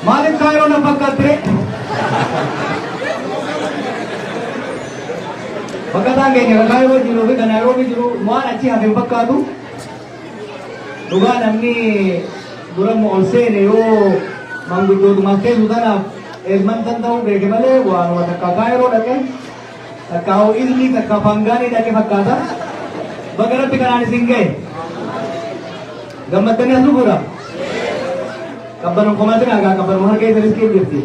Maalif kaayoo na fakkaattire? Fakkataan keenya kan kaayoo jiruu fi kan Naayiroobii jiru waan achi hafe hin fakkaatu. Dhugaa namni duramma ol seene yoo manguddootumaaf teessu tanaaf eerman tan ta'uu beeke malee waanuma takka kaayoo dhaqee Takkaa hoo ilmii takkaa paangaalee dhaqe fakkaata. Baga rabbi kanaan isin ga'e. Gammaddanii as dhufuudha. Qabbanuun komaatiin argaa qabbanuun harka isa riskii jirti.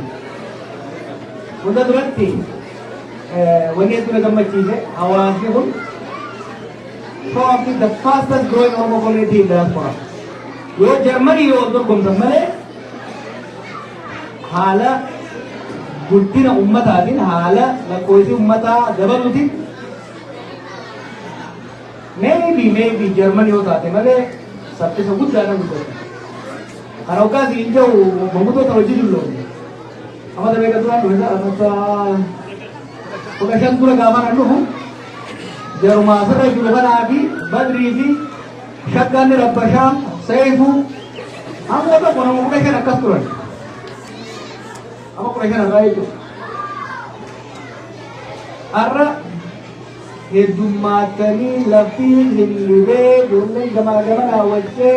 Hunda duratti wanni hedduu na gammachiise hawaasni kun probably the fastest growing Oromo community in diaspora. Yoo Jarmanii yoo dorgomtan malee Haala guddina ummataatiin haala lakkoofsi ummataa dabaluutiin maybe maybe Jarman yoo taate malee saffisa guddaadhaan guddatu. Kan hoggaas hin jiru manguddota hojii dulloomne. Amma damee kan duraan dhufe sana bakka kudha shan dura gaafa kan dhufu jarumaa sirra jiru kanaa fi badrii fi Shaggaan Rabbashaa, Seeyfuu, amma tokko nama kudha shan akkas turan. Amma kudha shan irraa jechuudha. Har'a heddummaatanii laftiin hin dhibee ijoolleen gamaa gamanaa wajjee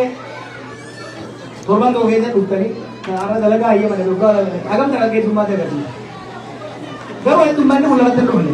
torban tokko keessa dhuftanii har'a dalagaa hayyama dha dhugaa dalagaa hagamta kan heddummaata agarsiisa. Garuu heddummaanni kun lamatti hin dhufne.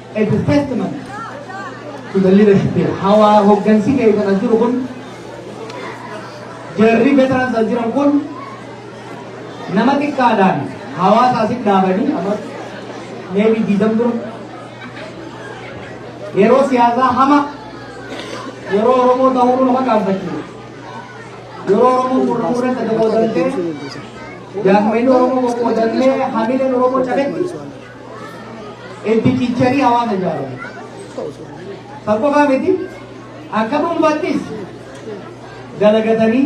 a testament to the leadership here. Hawa hoggansi keessan as jiru kun jarri veterans as jiran kun nama xiqqaadhaan hawaasa asitti dhaabanii amma maybe diidam dura yeroo siyaasaa hama yeroo Oromoo ta'uu nama qaanfachiisa. Yeroo Oromoo murmuu irratti qoodamtee jaanmeen Oromoo qoodamtee hamileen Oromoo cabetti Itti cicharii hawaasa ijaarame. Kan qofaa miti akka dhuunfaattis dalagatanii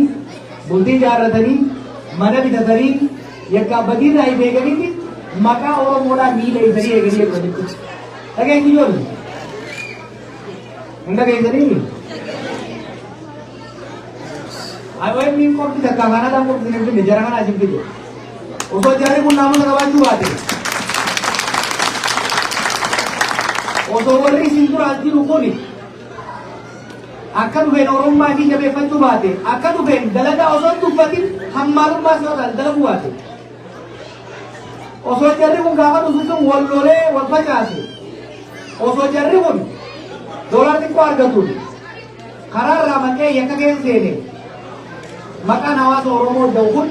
bultii ijaarratanii mana bitatanii yakka abbaatii irraa hin eeganitti maqaa Oromoodhaan miila isanii eeganii eeggatanitti. Dhageessi ijoollee. Hin dhageessanii? IOM hin qofti takka kana kan qofti hin finne jara kana isin fide. Osoo jarri kun naamota qabaachuu baate. Osoo warri isin duraan jiru kun akka dhufeen oromummaa isii jabeeffachuu baate akka dhufeen dalagaa osoo hin tuffatin hammaalummaa isaa taate dalaguu baate. Osoo jarri kun gaafa dhufu sun wal lolee wal facaase. Osoo jarri kun doolaar xiqqoo argatuun Karaa irraa maqee yakka keessa seene maqaan hawaasa Oromoo da'u kun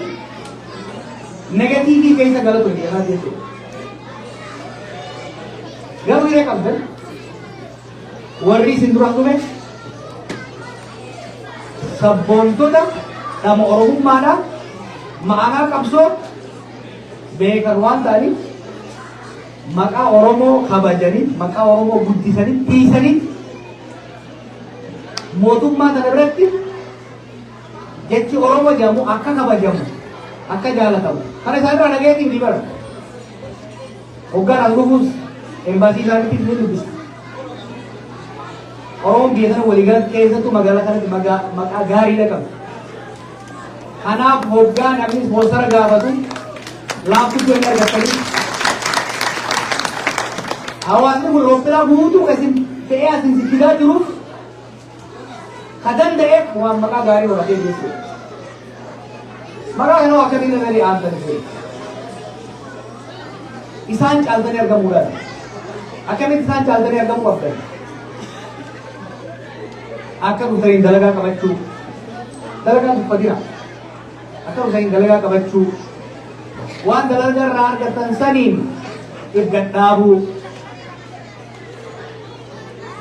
negatiivii keessa gala ture jedhamaa jechuudha. Garuu hiree qabdan warri isin duraan dhume sabboontota dhama Oromummaadhaan ma'anaa qabsoo beekan waan ta'aniif maqaa Oromoo kabajanii maqaa Oromoo guddisanii tiisanii Mootummaa kana biratti jechi Oromoo jedhamu akka kabajamu akka jaalatamu kana isaan irraa dhageetiin ni bara. Hoggaan as dhufuus embaasii isaaniitiif ni dubbisa. Oromoon biyya sana waliigalatti keessattuu magaalaa kanatti maqaa gaariidha qabu. Kanaaf hoggaa namni ispoonsara gaafatu laaffisuu hin argattanii. Hawaasni kun roobbilaa guutuu kan isin fe'ee asin sichisaa jiruuf ka danda'eef waan maqaa gaarii horatee jechuudha. Maqaa kanoo akkamiin irratti aantan ture. Isaan caaltanii argamuudhaan akkamitti isaan caaltanii argamuu qabdan. Akka dhufaniin dalagaa qabachuu. Dalagaa tuffatina. Akka dhufaniin dalagaa qabachuu. Waan dalagaa irraa argatan saniin if gadhaabuu.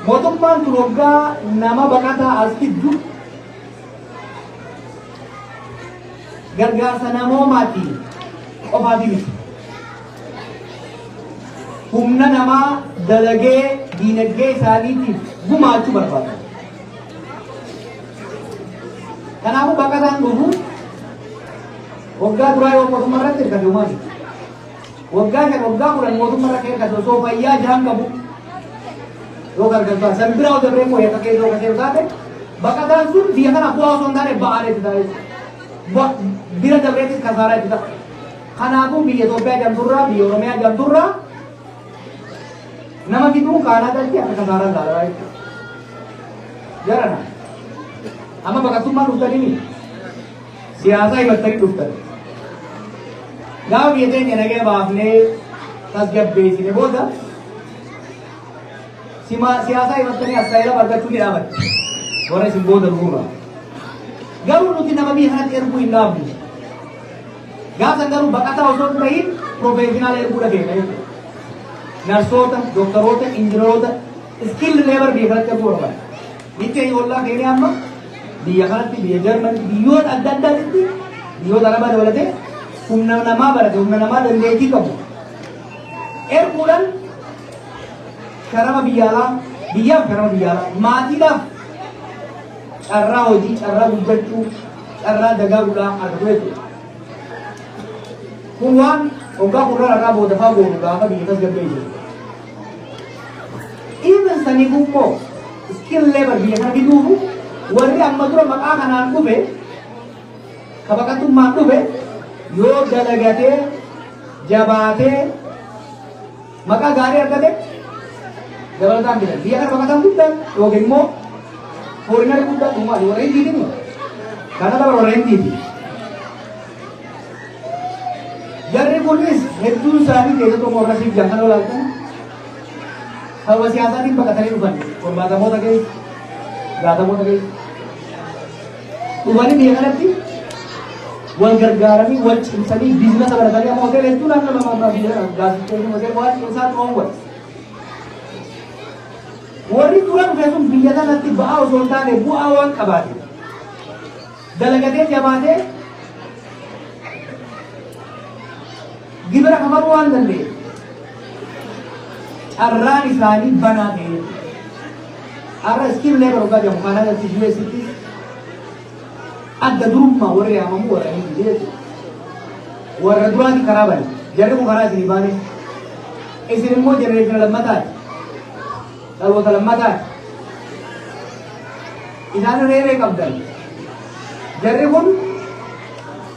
Mootummaan kun waggaa nama baqataa as fiddu gargaarsa namoomaatiin qofaatii miti. humna namaa dalagee diinagdee isaaniitiif gumaachuu barbaada. Kanaafuu bakka isaan dhufu waggaa duraa yoo mootummaa irratti hirkate uumame waggaa shan waggaa kudhan mootummaa irratti hirkate osoo fayyaa jaan qabu yoo gargaartu san biraa osoo biree mooyee akka keessoo kasee taate bakka isaan sun biyya kana bu'aa osoo hin taane ba'aa itti taate bira dabreetti kasaaraa itti ta'a. Kanaafuu biyya Itoophiyaa jedhamturraa biyya Oromiyaa jedhamturraa nama fiduun kaanaa galti akka kasaaraan laalaa jechuudha. Jarana. Amma baqattummaa dhuftanii miti. Siyaasaa himattanii dhuftan. Gaafa biyya keenya nagee baafnee tasgabbeessine booda sima- siyaasaa himattanii asaayilama argachuu ni dhaabatti. Warra isin booda dhufuurraa. Garuu nuti nama biyya kanatti erguu hin dhaabnu. Gaafa san garuu baqataa osoo hin tahin professional erguudha keenya jechuudha. Narsoota, doktaroota, injineroota, skilled labor biyya kanatti erguu barbaada. Biyyi keenya ollaa keenya amma biyya kanatti biyya Jarman biyyoota adda addaatitti biyyoota lama dabalatee humna namaa barate humna namaa dandeettii qabu. Erguudhaan sharama biyya alaa biyyaaf sharama biyya alaa maatiidhaaf carraa hojii carraa guddachuu carraa dagaaguudhaa argamee ture. Kun waan waggaa kurnan irraa booda faa goonu gaafa biyya tasgabbee jiru. Even sanii gubboo skill labor biyya kana fiduufu warri amma dura maqaa kanaan dhufe ka baqatummaan dhufe yoo dalagatee jabaatee Maqaa gaarii argate dabalataan bitan. Biyya kana baqataan guddaan yookiin immoo fooriinarri guddaan uumaa warra hindiiti kun. Kana bara warra hindiiti. Jarri kunis hedduun isaanii keessattuu morra siif jaakan olaatan sababa siyaasaatiin baqatanii dhufan torbaatamoota keessa jaatamoota keessa. Uummanni biyya kanatti wal gargaaranii wal cimsanii biizinasa baratanii amma hoteela hedduu naannoo lama ammaa biyya gaazexeessanii hoteela waan cimsaa dhoowwan. Warri dura dhufe sun biyya kanatti ba'aa osoo hin taane bu'aa waan qabaate. Dalagatee jabaatee gibira kafaluu waan danda'e. Carraan isaanii banaa ta'e. Har'a skilled labor of Gaja Canada fi US tti adda durummaa warri yaamamu warra hin jire jechuudha. Warra duraati karaa bane. Jarri kun karaa isinii baane. Isin immoo jenereeshina lammataati. Dhaloota lammataati. Isaan reeree qabdan. Jarri kun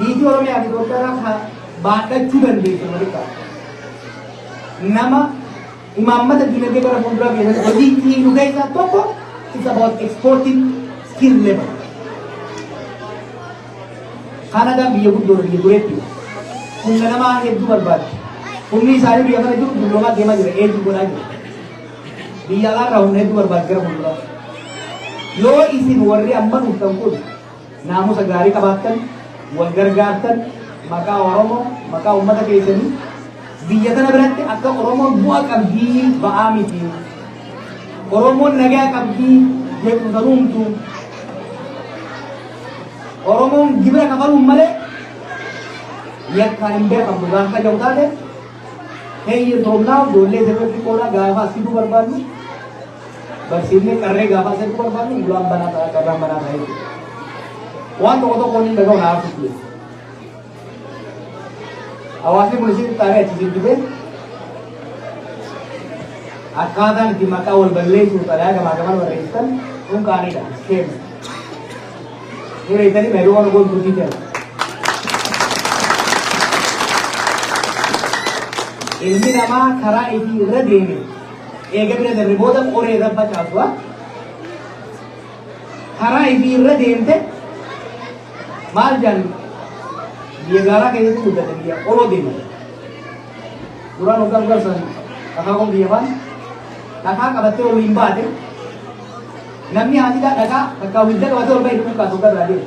Niitii Oromiyaa fi Gooddaraa ka baadhachuu dandeessu Malika. Nama imaammata dinagdee gara fuulduraa biyya sana hojii itti hiiku keessaa tokko it's about exporting skill labor. Kaanadaan biyya guddoo biyya dureetti humna namaa hedduu barbaaddi. Humni isaanii biyya kana jiru dulloomaa deemaa jira eeguu godhaa jira. Biyya alaarraa humna hedduu barbaaddi gara fuulduraa. Yoo isin warri amma dhuftan kun naamusa gaarii qabaattan, wal gargaartan, maqaa Oromoo, maqaa ummata keessanii biyya tana biratti akka Oromoon bu'a qabdii ba'aa miti. Oromoon nagaa qabdii jeequmsa nuumtu. Oromoon gibira kafaluun malee yakkaan hin beekamtu gaafa jedhu taate heeyyee toomnaa ijoollee sirriitti qoodhaa gaafa asii barbaadnu Barsiifni qarree gaafaa seetu barbaadu bulaan banaa ta'a carraan banaa ta'a jechuudha. Waan tokko tokko inni dhaga'u na haasoftu jechuudha. Hawaasni kun isin xaaree achi jibbitee akkaataan itti maqaa wal balleessuuf xalayaa gamaa gamaa barreessitan kun qaanidha. Keema. Hireessanii baay'ee waan goon turtii jira. Ilmi namaa karaa itti irra deeme Eega bira dabre booda qoree irra facaasua. Karaa ifii irra deemte maal jedhan biyya gaaraa keessatti guddate biyya qoroo deema. Duraan waggaa dura san dhakaa kun biyya faan dhakaa qabattee ol hin baate namni haatiidhaa dhakaa bakka hunda qabatee ol bahe dhukkubkaatu gara deema.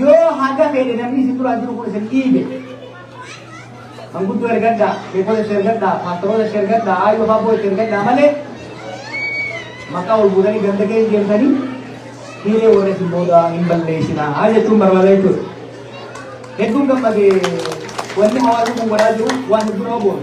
Yoo haga fedhe namni isin duraa jiru kun isin dhiibe. Kan guddoo ergadhaa, sheekota itti ergadhaa, paastaroota itti ergadhaa, aayyoo faaboo itti ergadhaa malee maqaa ol fuudhanii ganda keessa deemtanii dhiiree warra isin booda hin balleessinaa jechuun barbaada jechuudha. Hedduun gammadee wanni hawaasni kun godhaa jiru waan hedduu nama boona.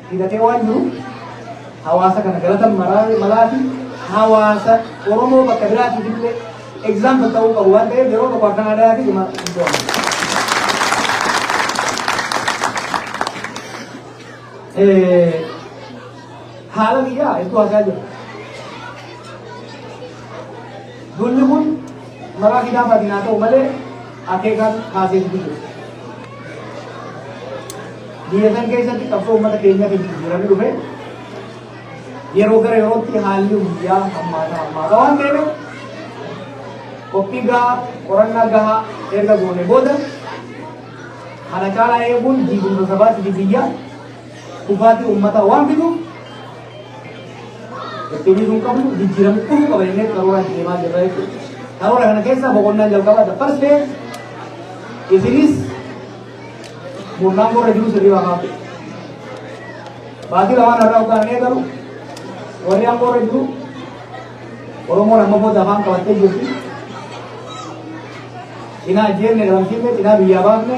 hidhatee waan jiru hawaasa kana galatan malaafi hawaasa Oromoo bakka biraatiif illee example ta'uu qabu waan ta'eef yeroo tokko akkan aadaa fi dhuma haala biyyaa hedduu haasaa jira. Lolli kun maraa hidhaa fadinaa ta'u malee akeekaan kaasee itti jiru. Biyya san keessatti qabsoo uummata keenyatiin jijjiiramee dhufe yeroo gara yerootti haalli guyyaa hammaataa hammaataa waan ta'eef qophii gahaa qorannaa gahaa erga goone booda kana caalaa eeguun diigumsa sabaatti biyyaa kufaatii uummataa waan fiduuf ittiin sun qabnu jijjiiramni dhufuu qaba jennee karoora itti deemaa jirra jechuudha. Karoora kana keessaa boqonnaan jalqabaa the first phase isinis murnaan gurra jiru sirrii waan hafe. Baatii lamaan irraa uffaan eegalu warri aangoo irra jiru Oromoon amma booda afaan qabattee jirti. Cinaa ajjeenne dhabamsiifne cinaa biyyaa baafne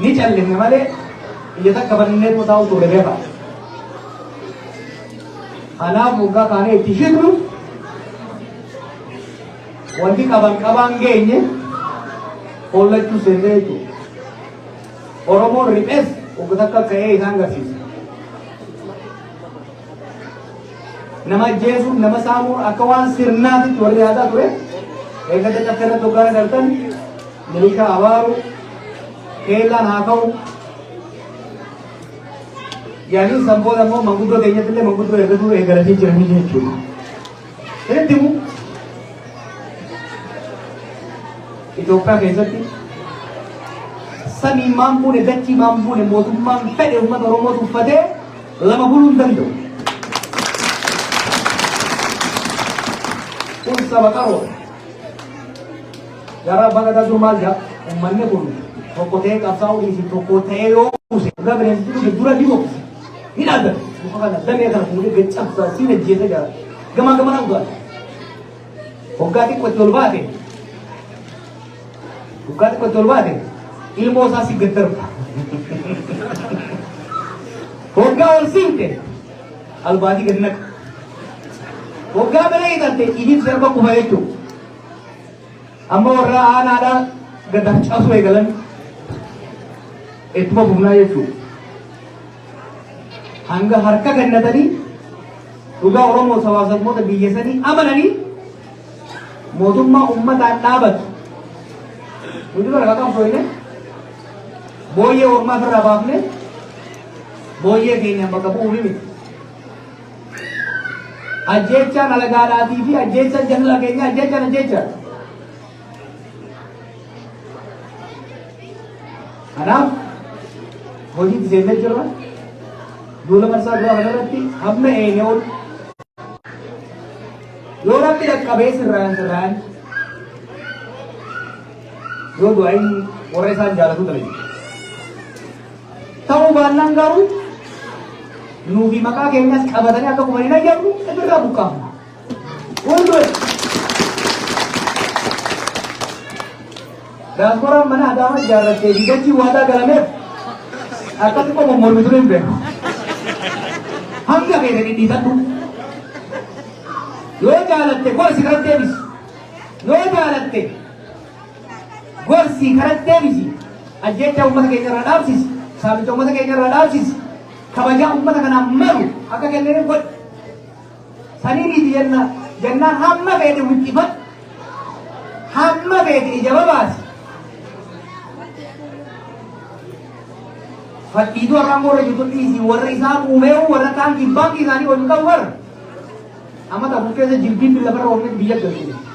Ni callifne malee ija takka bannee immoo taa'uu turre beekaa. Kanaaf waggaa kaanee itti hidhu wanti qaban qabaan geenye hollachuu seennee jechuudha. Oromoon riphes wagga takka ka'ee isaan garsiisa. Nama ajjeesuun nama saamuun akka waan sirnaatitti warri yaadaa ture eeggata caffeerra tokkoon galtan miliishaa abaaru keellaan haa ka'u yaaliin san booda immoo manguddoo keenyatti illee manguddoo eeggatuu eeggalatee jiranii jechuudha. Sirriitti immoo Itoophiyaa keessatti samiin maan buune dachii maan buune mootummaan fedhe uummata Oromoo tuffatee lama buluu hin danda'u. Kun saba qaroo. Gara baga daduu maal jedha? Uummanni kun tokko ta'ee qabsaa'uu dhiisii tokko ta'ee yoo kuuse irra bineensatti dhufe dura ni boqse. Ni dhaabata. Muka kana damee kana fuudhee gad cabsaa siin ajjeese jira. Gamaa gamanaa dhugaadha. Hoggaa xiqqoo itti ol baate Dhugaa dubbatti ol baate ilmoo isaa si gaddarba. Hoggaa ol siimte albaatii gad naqa. Hoggaa bira hidhatte ijiin sirba kufa jechuudha. Amma warra aanaadhaa gad harcaasuu eegalan ittuma fufnaa jechuudha. Hanga harka gannatanii dhugaa Oromoo sabaa sabmoota biyya sanii amananii Mootummaa ummataan dhaabatu. Nuti bara kan qabsooyne booyyee ormaa ofirraa baafne booyyee keenya bakka bu'uu miti. Ajjeechaan alagaadhaatii fi ajjeechaan jaalala keenya ajjeechaan ajjeechaa. Kanaaf hojiitti seennee jirra. Duula marsaa duraa kanarratti hamma eegee ol Yoo rabbi dhaqqabee sirraan sirraan yoo du'aa'in warra isaan jaalatu ta'e. Ta'uu baannaan garuu nuufi maqaa keenyas qabatanii akka kuman hin ayyamnu irraa buqqaafna. Wal du'e. Diasporaan mana Adaamaa ijaarrattee fi dachii waadaa galameef akka xiqqoo mommormi ture hin beeku. Hanga keessa dhidhiitadhu. Yoo jaalatte gorsi karatti deebisi. Yoo jaalatte gorsi karatti deebisi. Ajjeechaa uummata keenya irraa dhaabsisi. Saamicha uummata keenya irraa dhaabsisi. Kabajaa uummata kanaaf malu akka kennaniif godhi. Sanii miti jennaan jennaan hamma feete wixxifadhu hamma feete ija babaasi. Fadhiitu warra ammoo irra jirtu dhiisi warra isaa muumeewu warra kaan kibbaan isaanii ol ta'u warra. Amma ta'u keessa jilbiin lafarra oolmetti biyya galchine.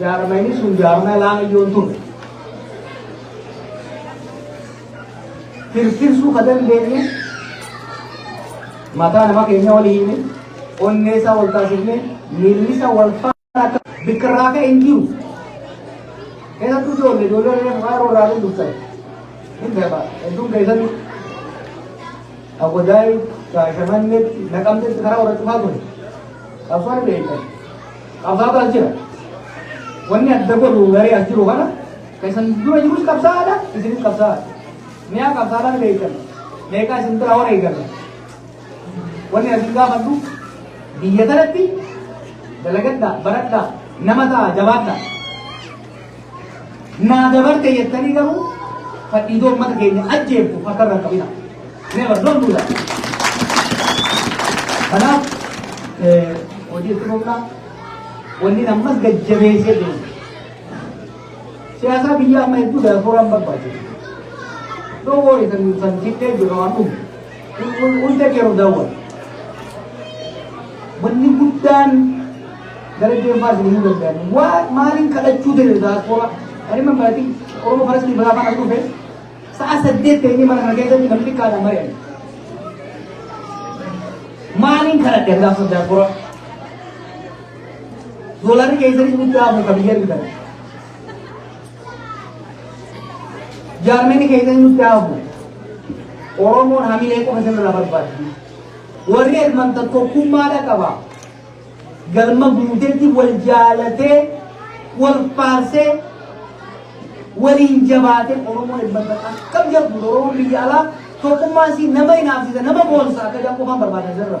Jaarmayni sun jaarmaya laamiyyoon ture. Tirsirsuu ka dandeenyu mataa nama keenya wal hiine onnee isaa wal taasifne miilli isaa wal faana akka bikka irraa ka'e hin jiru. Keessattuu ijoollee ijoollee reefu faayiroo irraa hin dubsan. Hin beekaa hedduun keessatti Agodaay, Shaashamannetti, Naqamtetti karaa warra cufaa ture. Qabsoon beekan. Qabsaataa jira. Wanni adda godhu garee as jiru kana kan isin dura jirus qabsaa'aadha isinis qabsaa'aadha. Mi'a qabsaa'aadhaan beektan meeqaa isin biraa warra eeggata. Wanni as hin gaafadhu biyya kanatti dalagadhaa baradhaa nama ta'a jabaadhaa. Naa dabarte jettanii garuu fadhiidoo uummata keenya ajjeeftu akka irra qabina. Never don't do that. Kanaaf hojii itti fufnaa wanni ammas gajjabeessee deemu. Siyaasaa biyya amma hedduu daasooraan barbaachisu. Doo wooyi kan san fittee jiru waan dhufu. Hunda keeroo daawwatu. Wanni guddaan gara deemaa isin himuu danda'an waa maaliin kadhachuu danda'e daaspooraa ani man baratiin oromoo faras ni baraafaan as dhufe sa'a saddeet ta'inii mana kana keessatti namni xiqqaadhaan mari'an. Maaliin kadhadhe gaafa daaspooraa? Doolaarri keessatti guddaa hafu kan biyya argitan. Jaarmeni keenya nutti hafu. Oromoon hamilee qofa sirra barbaaddi. Warri hirmanta tokkummaadha qaba. Galma guutetti wal jaalatee, wal faarsee, waliin jabaatee Oromoon hirmanta akkam jedhu Oromoon biyya alaa tokkummaan si nama hinaafsisa, nama boonsa akka jedhan qofaan barbaada sirra.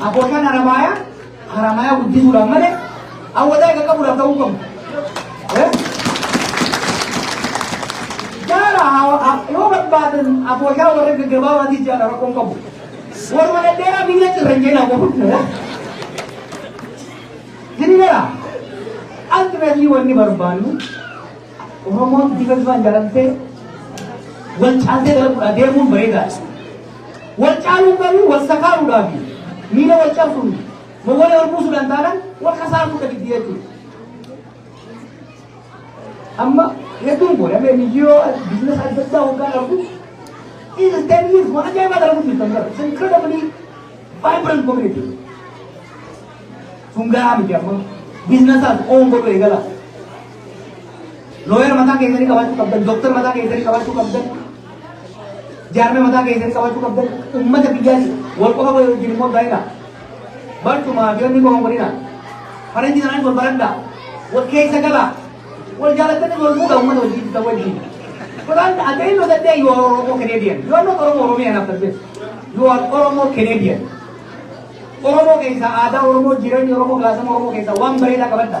Abbootiin Haramaayaa Haramaayaa guddisuudhaan malee awwadaa egaa qabuudhaaf ta'uu qabu. Jaala yoo barbaadan abbootaa warra gaggabaabaatii jaala rakkoon qabu. Warra dhedheeraa biyya cirra hin jeenaa qabu. Hiriira ultimately wanni barbaannu Oromoon bifa bifaan jaalamtee wal caaltee gara fuudhaa deemuun bareedaadha. Wal caaluun garuu wal sakaaruudhaa fi miira wal cabsuun mogolee wal buusuudhaan taanaan wal kasaaruu dhabiddi jechuudha. Amma hedduun kun amma miyyoo biizinasa adda addaa hoggaan argu is ten years waan ajaa'ibaa dalagu jirtan gara it's incredibly vibrant community. Sun gahaa miti amma biizinasaas oon godhu eegala. Looyera mataa keessanii qabaachuu qabdan, dooktar mataa keessanii qabaachuu qabdan, jaarmee mataa keessanii qabaachuu qabdan, uummata biyyaati wal qofa wal wajjin immoo baay'ina. Barcumaa fi wanni goon godhina. Faranjii sanaan wal baradha. Wal keessa gala. Wal jaalatanii wal fuudha uummata wajjin isa wajjin. Quran at the end of the day you are Oromo Canadian. You are not Oromo Oromian after this. You are Oromo Canadian. Oromo keessa aadaa Oromoo jireenya Oromoo gaasama Oromoo keessa waan bareedaa qabadha.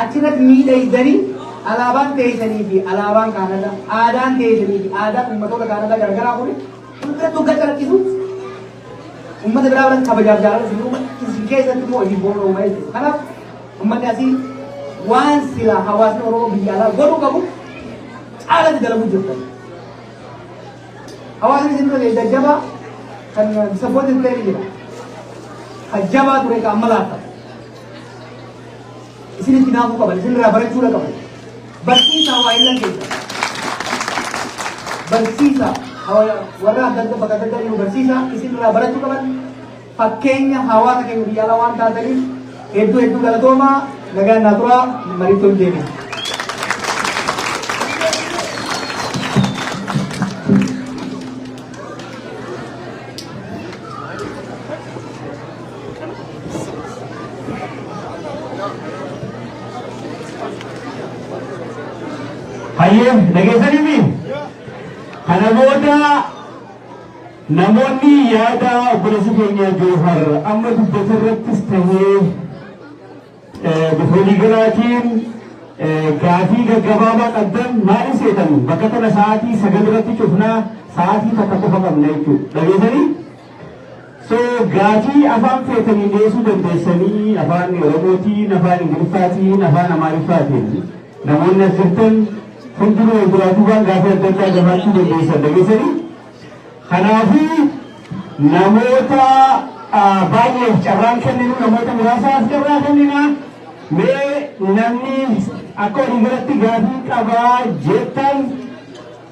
Achirratti miidhaysanii alaabaan teeysanii fi alaabaan Kaanadaa, aadaan teeysanii fi aadaan ummatoota Kaanadaa garagaraa kuni hundatti hoggaa calaqqisu ummata biraa biratti kabajaaf jaalala isin uuma, isin keessatti immoo isin booda uuma jechuudha. Kanaaf ummanni asii waan silaa hawaasni Oromoo biyya alaa godhuu qabu caalatti dalaguu jirtan. Hawaasni isin dura ta'e jajjabaa kan disappointed ta'e ni jira. Kan jabaa ture kan amma laata. Isinitti naafuu qaban, isinirraa barachuudha qaban. Barsiisaa waa illan keessa. Barsiisaa hawa- warra adda adda bakka adda addaa jiru barsiisaa isinirraa barachuu qaban. Fakkeenya hawaasa keenya biyya alaa waan taataniif hedduu hedduu galatoomaa nagaan naa turaa mariittoo hin deebiin. Hayyee dhageessaniifi kana booda namoonni yaada obboleessi keenya Joohar amma dubbate irrattis ta'ee eh, bifa waliigalaatiin eh, gaafii gaggabaabaa qabdan maal seetan bakka tana sa'aatii sagal irratti cufnaa sa'aatii takka qofa qabna jechuudha. Dhageessanii? So gaafii afaan feetaniin dhiyeessuu dandeessanii afaan Oromootiin, afaan Ingiliffaatiin, afaan Amaariffaatiin namoonni as jirtan hundinuu wal duraa duubaan gaafii adda addaa gafaachuu dandeessan dhageessanii. Kanaafuu namoota ah, baay'eef carraan kenninu namoota muraasaaf carraa kennina. Mee namni akka waliigalatti gaafii qabaa jettan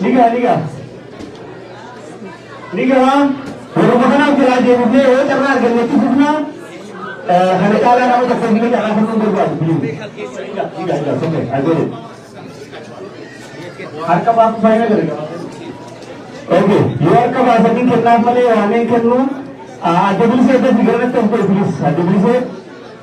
Nigaa nigaa. Nigaa yeroo kanaaf jalaa deemnee yoo carraa argannetti fufnaa kana caalaa nama tokko hin gahaa kan hin barbaadu. Nigaa nigaa soke ajoolle. Harka baafuu fayyina gargaara. Oke, yoo harka baasanii kennaaf malee waameen kennuu adda bilisee adda figaranatti as godhe bilis adda bilisee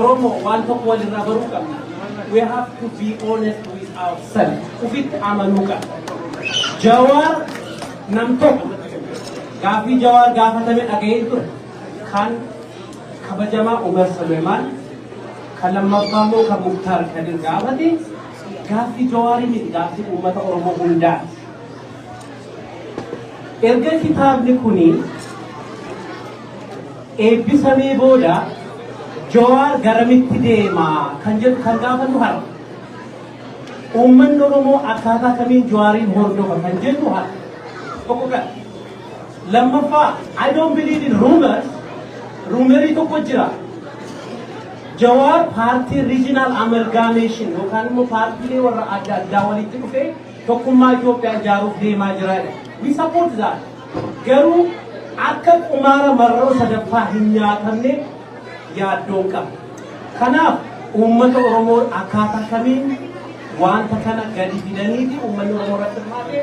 Oromo waan tokko walirraa baruu qabna. We have to be honest with ourselves. Ufitti amanuu qabna. Jawaar nam tokko gaaffii jawaar gaafatame dhaga'ee ture. Kan kabajamaa Umar Suleemaan kan lammaffaa immoo kan Muktaar Kadir gaafate gaaffii jawaarii miti gaaffii uummata Oromoo hundaati. Erga kitaabni kuni eebbifamee booda Jawaar garamitti deema kan jedhu kan gaafannu har'a. Uummanni Oromoo akkaataa kamiin Jawaariin hordofa kan jennu har'a. Tokko kan. Lammaffaa, I don't believe in rumors. Ruumerii tokko jira. Jawaar paartii regional amalgamation yookaan immoo paartiilee warra adda addaa walitti dhufee tokkummaa Itoophiyaa ijaaruuf deemaa jira. We support that. Garuu akka qumaara marroo sadaffaa hin nyaatamneef yaaddoon qaba. Kanaaf uummata Oromoo akkaataa kamiin waanta kana gadi fidaniiti uummanni Oromoo irratti hirmaate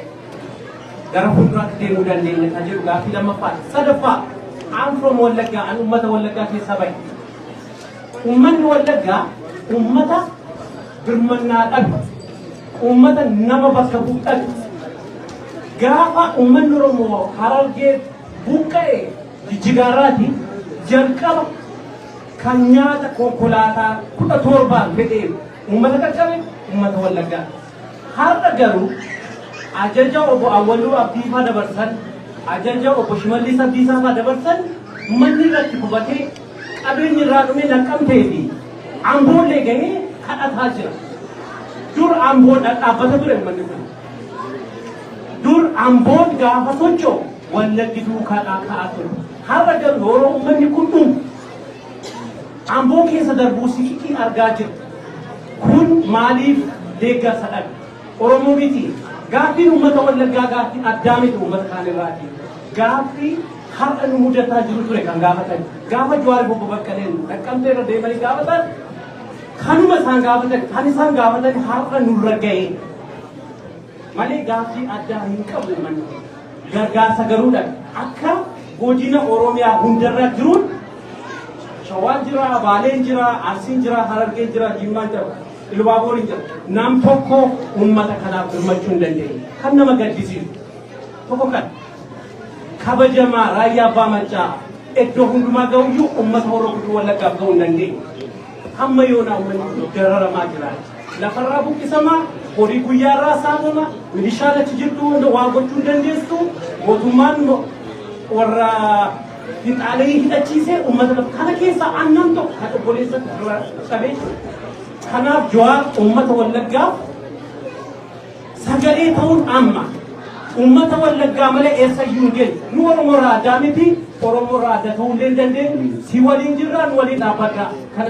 gara fuulduraatti deemuu dandeenya kan jedhu gaaffii lammaffaati. Sadaffaa I'm from Wallaggaa, an uummata Wallaggaa keessaa bahe. Uummanni Wallaggaa uummata birmannaa dhabu. Uummata nama bakka bu'uudhaatti gaafa uummanni Oromoo Harargee buqqa'e jijjigaarraati jalqaba kan nyaata konkolaataa kudha torbaan fedhee uummata qaqqabe uummata Wallaggaa. Har'a garuu ajaja obbo Awwaluu Abdiifaa dabarsan ajaja obbo Shimallis Abdiisaafaa dabarsan manni irratti gubatee Qabeenyi irraa dhume Naqqamtee fi Amboollee gahee kadhataa jira. Dur Amboon dhadhaabbata ture uummanni kun. Dur Amboon gaafa socho'u Wallaggi duukaa dhaaka'aa ture. Har'a garuu yeroo uummanni kun dhumu Amboo keessa darbuu sikitii argaa jiru. Kun maaliif deeggarsa dhabe? Oromoo miti. Gaaffiin uummata Wallaggaa gaaffii addaa miti uummata kaan irraati. Gaaffii har'a nu mudataa jiru ture kan gaafatan. Gaafa Jawaar Obbo Baqqaleen Naqqamtee irra deemanii gaafatan kanuma isaan gaafatan kan isaan gaafatan har'a nurra ga'e. Malee gaaffii addaa hin qabu manni. Gargaarsa garuudha. Akka godina Oromiyaa hundarra jiruun Shawaan jira, Baaleen jira, Arsiin jira, Harargeen jira, Jimmaan jira, Ilubaabooriin jira. Nam tokko uummata kanaaf birmachuu hin dandeenye. Kan nama gaddisiisu tokko kana. Kabajamaa Raayyaa Abbaa Maccaa eddo hundumaa ga'uyyuu ummata Horroo Guduruu Wallaggaaf ga'uu hin dandeenye. Hamma yoonaa ummanni kun dararamaa jira. Lafarraa buqqisamaa, horii guyyaarraa saamama, milishaan achi jirtu hunda waa gochuu hin dandeessu, mootummaan mo- warra finxaalee hidhachiisee ummata lafa kana keessaa aannan tokko kan obboleessa dura cabee jiru. Kanaaf Jawaar ummata Wallaggaaf Sagalee ta'uun amma uummata wallaggaa malee eessayyuu hin geenye. Nu Oromoo irraa addaa miti, Oromoo irraa adda ta'uu illee hin dandeenyu. Si waliin jirra, nu waliin dhaabbadha. Kana